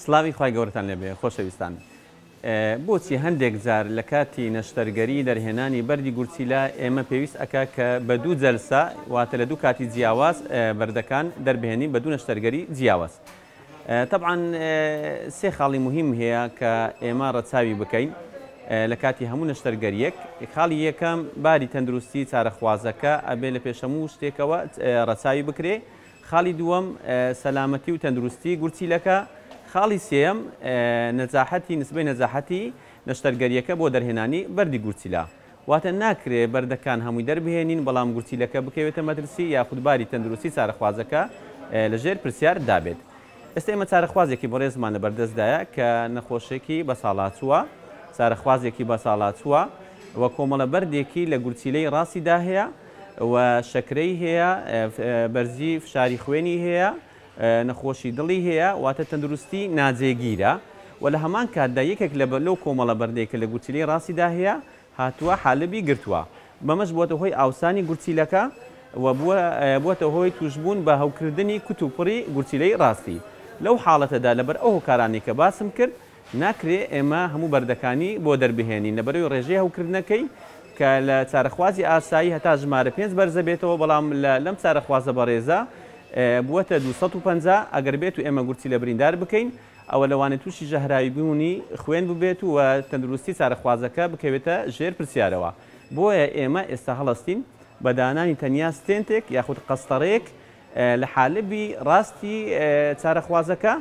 سڵاوی خوای گەورەتان لێبێ خۆشەویستان بۆچی هەندێک جار لە کاتی نەشتەرگەری دەرهێنانی بەری گورچیلا ئێمە پێویست ئەکا کە بە دوو جەلسا واتە لە دوو کاتی جیاواز بەردەکان دەربێنین بە دوو نەشتەرگەری جیاواز تەبعەن سێ خاڵی موهیم هەیە کە ئێمە رەچاوی بکەین لە کاتی هەموو نەشتەرگەریەک، خاڵی یەکەم باری تەندروستی چارەخوازەکە ئەبێ لە پێش هەموو شتێکەوە رەچاوی بکرێ، خاڵی دووەم سەلامەتی و تەندروستی گورچیلەکە، خاڵی سێیەم نەجاحەتی، نسبەی نەجاحەتی نەشتەرگەریەکە بۆ دەرهێنانی بەردی گورچیلە. واتە ناکرێ بەردەکان هەمووی دەربهێنین، بەڵام گورچیلەکە بکەوێتە مەترسی یاخود باری تەندروستی چارەخوازەکە لەژێر پرسیار دابێت. ئێستا ئێمە چارەخوازێکی بەڕێزمان لەبەردەستدایە کە نەخۆشێکی بەساڵاچووە، چارەخوازێکی بەساڵاچووە و کۆمەڵە بەردێکی لە گورچیلەی ڕاستیدا هەیە و شەکرەی هەیە، بەرزی فشاری خوێنی هەیە، نەخۆشی دڵی هەیە، واتە تەندروستی ناجێگیرە و لە هەمان کاتدا یەکێک لە لەو کۆمەڵە بەردەی کە لە گورچیلەی ڕاستیدا هەیە هاتووە حالبی گرتووە بەمەش بووەتە هۆی ئاوسانی گورچیلەکە و بووە بووەتە هۆی تووشبوون بە هەوکردنی کوتوپڕی گورچیلەی ڕاستی لەو حاڵەتەدا لەبەر ئەو هۆکارانەی کە باسم کرد ناکرێ ئێمە هەموو بەردەکانی بۆ دەربهێنین لەبەرەوی ڕێژەی هەوکردنەکەی کە لە چارەخوازی ئاسایی هەتا ژمارە پێنج بەرزە بێتەوە بەڵام لە لەم چارەخوازە بەڕێزە بووەتە دوو سەد و پەنجا ئەگەر بێت و ئێمە گورچی لە بریندار بکەین ئەوە لەوانەیە تووشی ژەهراوی بوونی خوێن ببێت و تەندروستی چارەخوازەکە بکەوێتە ژێر پرسیارەوە بۆیە ئێمە ئێستا هەڵەستین بە دانانی تەنیا ستێنتێک یاخود قەستەڕەیەک لە حالبی ڕاستی چارەخوازەکە.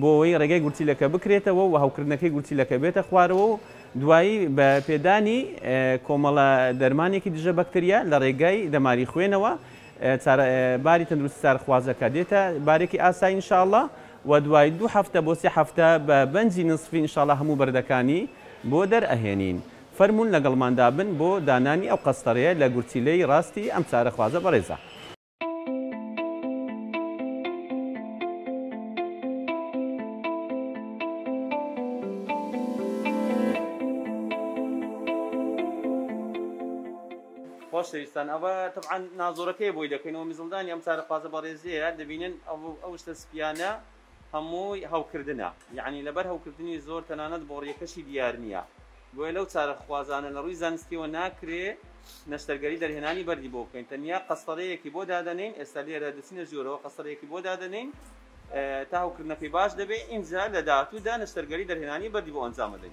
بۆ ئەوەی ڕێگای گورچیلەکە بکرێتەوە و هەوکردنەکەی گورچیلەکە بێتە خوارەوە و دوایی بە پێدانی کۆمەڵە دەرمانێکی دژە بەکتریا لە ڕێگای دەماری خوێنەوە چارە باری تەندروستی چارخوازەکە دێتە بارێکی ئاسایی ان شاء اللە و دوای دوو هەفتە بۆ سێ هەفتە بە بەنجی نسفی ان شاء اللە هەموو بەردەکانی بۆ دەرئەهێنین فەرموون لەگەڵماندا بن بۆ دانانی ئەو قەستەرەیە لە گورچیلەی ڕاستی ئەم چارەخوازە بەڕێزە. خۆشەویستان ئەوە تەبعاان نازۆرەکەی بۆی دەکەینەوە میزڵدانی ئەم چارەخوازە بەڕێزەیە دەبینن ئەو ئەو شتە سپیانە هەمووی هەوکردنە یەعنی لەبەر هەوکردنی زۆر تەنانەت بۆڕیەکەشی دیار نیە بۆیە لەو چارەخوازانە لەڕووی زانستیەوە ناکرێ نەشتەرگەری دەرهێنانی بەردی بۆ بکەین تەنیا قەستەرەیەکی بۆ دادەنێین ئێستا لێرە دەچینە ژۆرەوە قەستەرەیەکی بۆ دادەنێین تا هەوکردنەکەی باش دەبێ ئینجا لەداهاتوودا نەشتەرگەری دەرهێنانی بەردی بۆ ئەنجامەدەین.